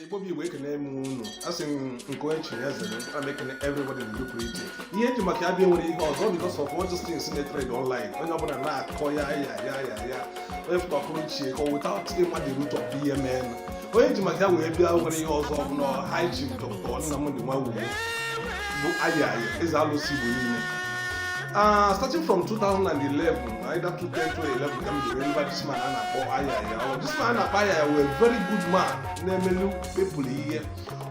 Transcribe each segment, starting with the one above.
igbo bụ igbo ekene m unu asị m nke onye chiri eze a na-ekene everybody n'ụdị pụrụ iche ihe eji maka abịa nwere ihe ọzọ because of all these things na-trend online onye ọbụla na-akọ ayaya ayaya onye pụta pụrụ iche ka without ịma the root of ihe mee onye ji maka ya wee bịa nwere ihe ọzọ bụ na high chief dọkịta nnamdị nwawuo bụ ayaya eze alụsị igbo niile starting from 2011 Either 2010 2011 ka m ji wee mara this man a na-akpọ ayaya ọ this man a na-akpọ ayaya very very good man na-emelu people ihe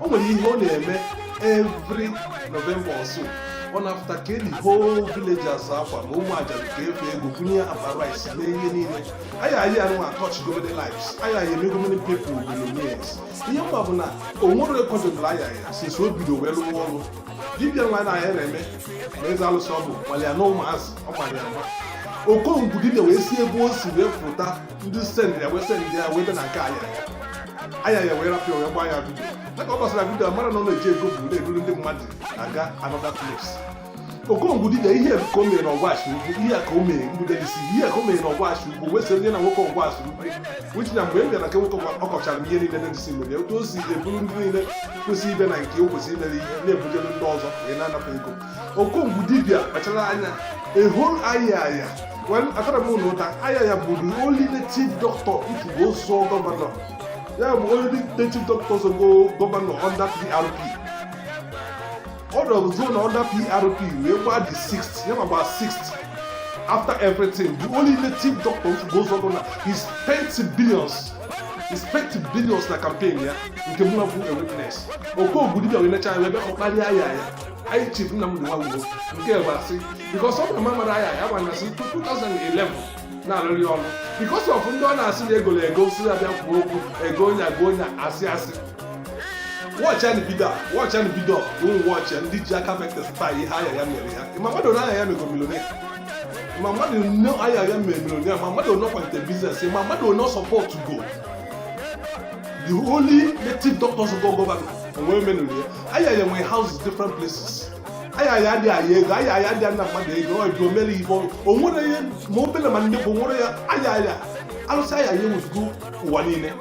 o nwere ihe ọ na-eme every November or so ọ na-apụta keelu the whole villagers akwa ma ụmụ aja ka efe ego bunye akpa rice mee ihe niile ayaya nwa atouchgo many lives ayaya emego many people millionaires ihe m ma bụ na o nwere rekọdụ ọbụla ayaya since o bido wee lụwa ọrụ dibịa nwa na ya na-eme na eze alụsị ọ bụ gbalịa na ụmụazị ọ gbalịa mgba okongwu dibịa wee si ebe o si wee pụta ndị sendị ya wee sendị ya wee bịa na nke ayaya ayaya wee rapịa wee gbaa ya vidio dịka ọ gbasara vidio mara na ọ na-eji ego bụ na-eruru ndị mmadụ na-aga anọda klips okongwu dibịa ihe ka o mere na ọgwashi ugwu ihe ka o mere mgbede isi ihe ka o mere na ọgwashi ugwu wee sị onye na nwoke ọgwashi ugwu which na mgbe m bịara nke nwoke ọ kọchara m ihe niile na-edisi mere otu o si eburu ndị niile ka o si bịa na nke ya ka o si eme ihe na-ebujere ndị ọzọ wee na-anapụ ego okongwu dibia kpachara anya a whole ayaya well atarọ m unu ụta ayaya bụ the only native doctor ị fụgo zọọ gọvanọ ya bụ only native doctor zọgo gọvanọ under PRP ọ zọrọ gọvanọ under prp wee gbaa the sixth ya ma gbaa sixth after everything the only native doctor ị fụgo zọọ gọvanọ he spent billions he spent billions na campaign ya nke mụ na bụ a witness okongwu dibia wee necha anya ebe ọ kparịa ayaya high chief nnamdị nwawuo nke bụ asị because ọ bụrụ ma mara ayaya gbana asị 2011 na-arụrị ọrụ because of ndị ọ na-asị na egolo ego sị ya bịa kwuo okwu ego onye agụụ onye asị asị wọchị anyị bido wọchị anyị bido ụmụ wọchị ndị ji aka vectors taa ihe ayaya mere ya ị ma mmadụ one ayaya mego millionaire ị ma mmadụ one ayaya mere millionaire ị ma mmadụ one ọ kwalite biznes ị ma mmadụ one ọ sọpọtgo the only native doctor zọgo gọvanọ onwe menụrụ ya ayaya nwere houses different places ayaya adị ayọ ego ayaya adị ana mmadụ ego ọ dị omere ibe o nwere ihe ma obere ma ndị bụ nwere ya ayaya alụsị ayaya ewuzugo ụwa niile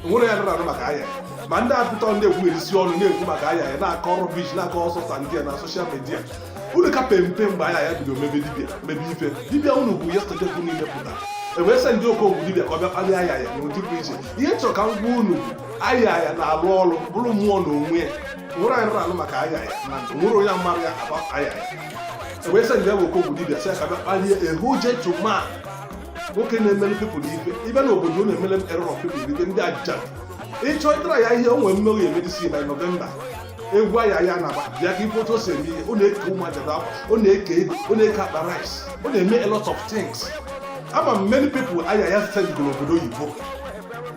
nwere ya nụrụ anụ maka ayaya ma ndị apụta ndị ekwugherizi ọnụ na-ekwu maka ayaya na-akọ rubbish na-akọ ọsọ sa ndị ya na social media unu ka pe mpe mgbe ayaya bido mebe dibia mebe ife dibia unu bụ ya sọjọ unu ihe pụta e wee send okongwu dibia ka ọ bịa kpalịa ayaya n'ụdị pụrụ iche ihe m chọrọ ka m gwa unu bụ ayaya na-alụ ọrụ bụrụ mmụọ na onwe ya nwere onye nụrụ anụ maka ayaya na nwere onye mara ya aba ayaya e wee sendịa okongwu dibia sị ya ka bịa kpalịa a whole gentleman nwoke na-emere people ife ibe na obodo na-emere a lot of people ife ndị aja ịchọ ịtara ya ihe o nwere mmeri emedisi na nọvemba egwu aya ya na bịa ka ị fụ otu o si eme ihe ọ na-eke ụmụ ajadu akwa ọ na-eke ego ọ na-eke akpa rice ọ na-eme a lot of things ama m many people aya ya sendịgoro obodo oyibo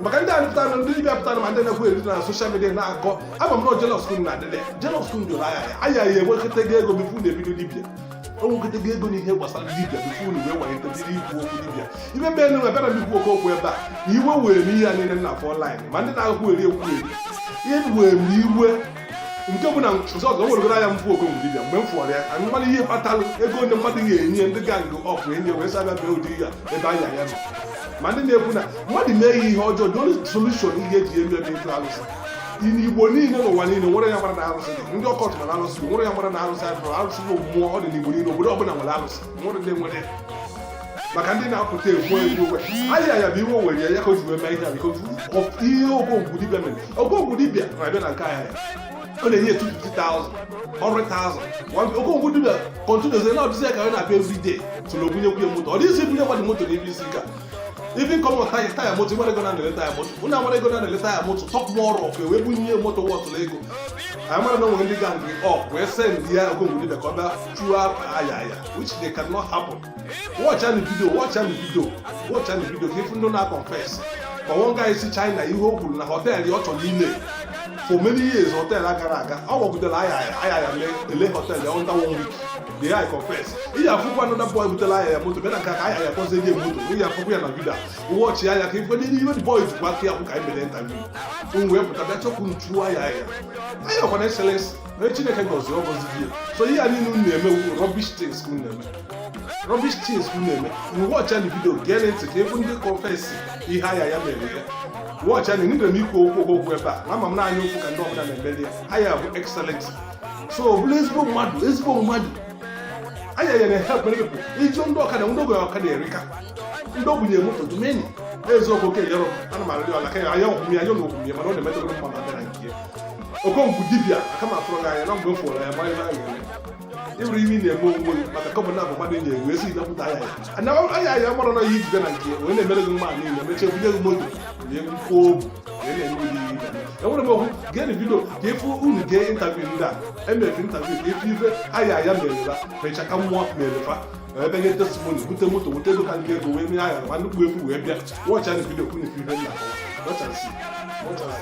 maka ndị na-apụta na ndị dibịa pụtara ma ndị na-ekwu eri na social media na-akọ ama m na jealous ka unu na adịla jealous ka unu jụrụ aya ya aya ya enwekọta ego ego before na-ebido dibịa o nwegide gị ego n'ihe gbasara dibia tupu unu wee walitedịrị ikwu okwu dibia ibe be enu abịarọ m ikwu oke okwu ebe a na iwe were m ihe a niile na-afụ online ma ndị na-agụkwu eri ekwu eri ihe were m iwe nke bụ na ọzọ weregoro anya m fụ ogo mgbe dibia mgbe m fụrụ ya anyị mmadụ ihe kpatalụ ego ndị mmadụ ga-enye ndị ga nke ọfụ enye wee sa abịa bee ụdị ya ebe anya ya nọ ma ndị na-ekwu na mmadụ mee ya ihe ọjọọ the only solution ihe e ji eme ya bụ ịtụ alụsị igbo niile n'ụwa niile nwere ya mara na arụsị ndị court mara arụsị nwere ya mara na arụsị arụrụ arụsị bụ mmụọ ọ dị n'igbo niile obodo ọbụla nwere arụsị nwere ndị nwere maka ndị na-apụta ekwu ekwu owe aya aya bụ iwe were ya ka o ji wee mee ihe biko ihe okonkwu dibịa mere okonkwu dibịa na-abịa na nke ahịa ọ na-enye etu 50,000 100,000 okonkwu dibịa continue-zi na-abịzi ya ka ọ na-abịa every day so na ọ ga-ebunyekwu ya moto ọ dịghịzi ebunye mmadụ moto n'ebe isi ka even come on taya taya moto nwere ego na na-ele taya moto ụna nwere ego na na-ele taya moto talk more of wee bụ ihe moto worth-ụrụ ego anyị mara na nwere ndị gang up wee send ya okonkwu dibịa ka ọ bịa chụọ aya aya which they cannot happen watch any video watch any video watch any video ka ị fụ ndị na-confess ma one guy si China ihe o kwuru na hotel ọ chọrọ ile for many years hotel agarọ aga ọ gakwutere aya aya aya ele hotel ya under one week the guy confess ị ya afụkwa another boy butela aya ya moto bịa na nke aka aya ya kpọzie gị moto ị ya afụkwa ya na YouTube watch ya ya ka ị fụ na ihe iwe boy jikwa aka ya kwụ ka anyị mere ntabi m wee pụta bịa chọkwu nchuo aya ya aya ọkwa na excellence na chineke gọziri ọ gọzi gị so ihe a niile unu na-eme rubbish things ka unu na-eme rubbish things ka unu na-eme na watch-anụ video gee ntị ka ị fụ ndị confess ihe aya ya mere ya watch ya nidere m ikwu okwu okwu ebe a na ama m naanị okwu ka ndị ọbụla na-emeli ya aya bụ excellent so ọ bụla ezigbo mmadụ ezigbo mmadụ anya nyere ha kwere people ị fụ ndị ọkada ndị ogbenye ọkada erika ndị ogbenye moto dumeni eziokwu oke yọrọ ana m arịrị ọla ka ya anya ọkwụmya anya ọkwụmya mana ọ na-emetụrụ mma na abịara nke okonkwu dibia aka m afụrụ gị anya na mgbe m fụrụ ya gbanye na ya ị fụrụ ihe ị na-eme onwe gị maka ọ bụ na abụ mmadụ enyi egwu esi napụta anya ya anya anya ya mara na ihe e jide na nke wee na-emere gị mma niile mechie bunye gị moto na egwu kwuo obu enwere m okwu geenụ video ka a fụ unu gee interview ndị a eme fa interview ka a fụ ife aya aya mere fa mecha ka mmụọ mere fa ebe nye testimony bute moto wute ego ka ndị ego wee mee aya ma nnukwu ife wee bịa watch-anụ video ka unu ife ife nna wọchasi wọchasi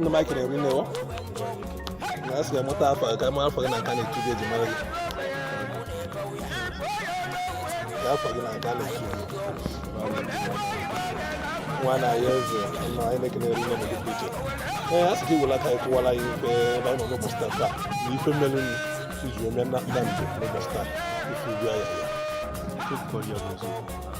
ndị mike na-eri nnewo na a sị ga mụta afa ka ma afa gị na nke a na-etu gị eji mara gị ka afa gị na nke a na-etu gị nwa na ya eze nọ anyị na-ekene eri nne gị pụrụ iche ee a sị gị wela ka anyị kọwara ya ife ebe anyị nọ n'ụbọchị taa taa na ife melụ nri iji ome na nna njem n'ụbọchị taa ife ubi anya ya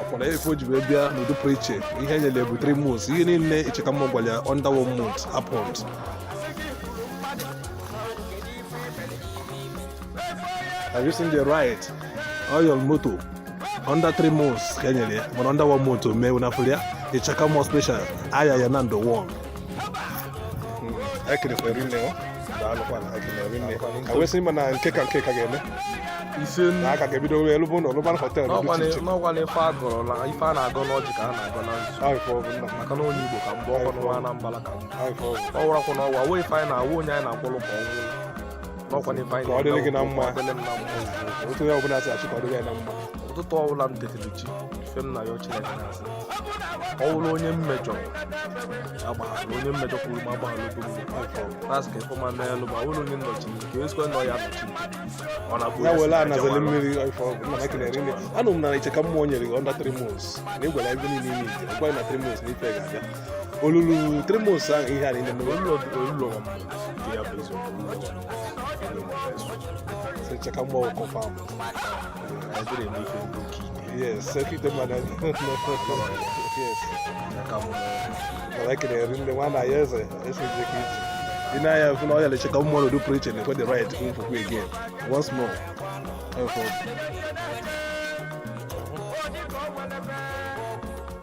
ọkwara efe o ji wee bịa n'udo pụrụ iche ihe e nyere bụ three months ihe niile ịchaka mmụọ gwara ya under one month happened Have you seen the ride? Oil moto under three months ka e nyere ya mana under one month o mee unu afụrụ ya ịchaka mmụọ special aya ya under one ekelekwa eri nne awesị ma na nke ka nke ka ga-eme na aka ga-ebido wee lụbụ na ọlụban họtel n'ọgwana ife a gọrọ na ife a na-agọ n'ọjị ka a na-agọ na nzu maka na onye igbo ka m bụkwa n'ụwa anambala ka ọ wụrakwa n'ụwa wee ife anyị na-awụ onye anyị na-akwụrụ ka ọ nwụrụ ka ọ dịrị gị na mma otu onye ọbụla si achọ ka ọ dịrị ya na mma ụtụtụ ọbụla m tetiri chi ife m na ya Chineke na-asị ọ wụrụ onye m mejọ agbaghalụ onye mmejọ kwuru ma agbaghalụ okwu na-asị ka ife ọma meelụ m ọ wụrụ onye nnọchi ka ezikwa nọ ya nọchi ọ na-abụ ya were anazeli mmiri anụ m na ịchaka mmụọ nyere gị under three months na ịgwara ebe niile ime ite ọkwa na three months na ife ga-abịa o lulu three months ahụ ihe a niile mere olulu olulu ọgọ mmadụ nke ya bụ ezi olulu ọgọ so cheka mgbe ọkọ fam adịrị eme ife ndị oke yes sekite mmadụ yes mana ekele eri ndị nwa na ya eze esi ije ka iji ị na-anya fụ na ọ ya lecheka ụmụ ọnọdụ pụrụ iche na-ekwe the ride nkwukwu again once more Thank you.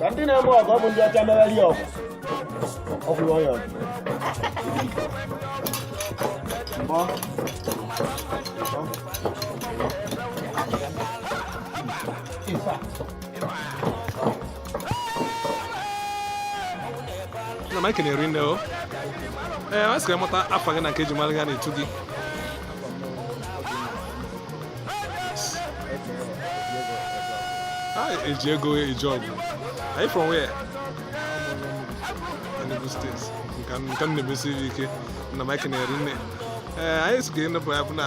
ka ndị na-eme ọgụ ọ bụ ndị ọcha mereri ọgụ ọ bụrụ onye ọgụ mbọ na mike na-eri nne o ee a sịrị mụta afa gị na nke eji mara gị a na-etu gị eji ego eji ọgwụ anyị from where Enugu steeti nke m na-emesiri ike na mike na-eri nne ee anyị si ka ị nọpụ ya bụ na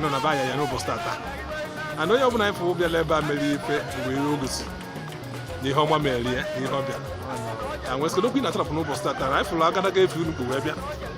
nọ na baya ya n'ụbọchị tata ana onye ọbụla anyị fụrụ bịala ebe a mere ife mgbe ihe o gosi na ihe ọma mere ya na ihe ọ bịara na nwesịrị okwu ị na-atarapụ n'ụbọchị tata na anyị fụrụ agadaga efe unu wee bịa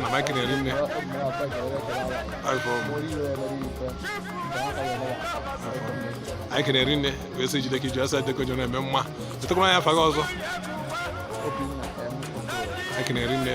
na maịkị na-eri nne anyị ka na-eri nne wee sị jide ka i ji asa deko jọ na-eme mma chetakwara anyị afa gị ọzọ anyị ka na-eri nne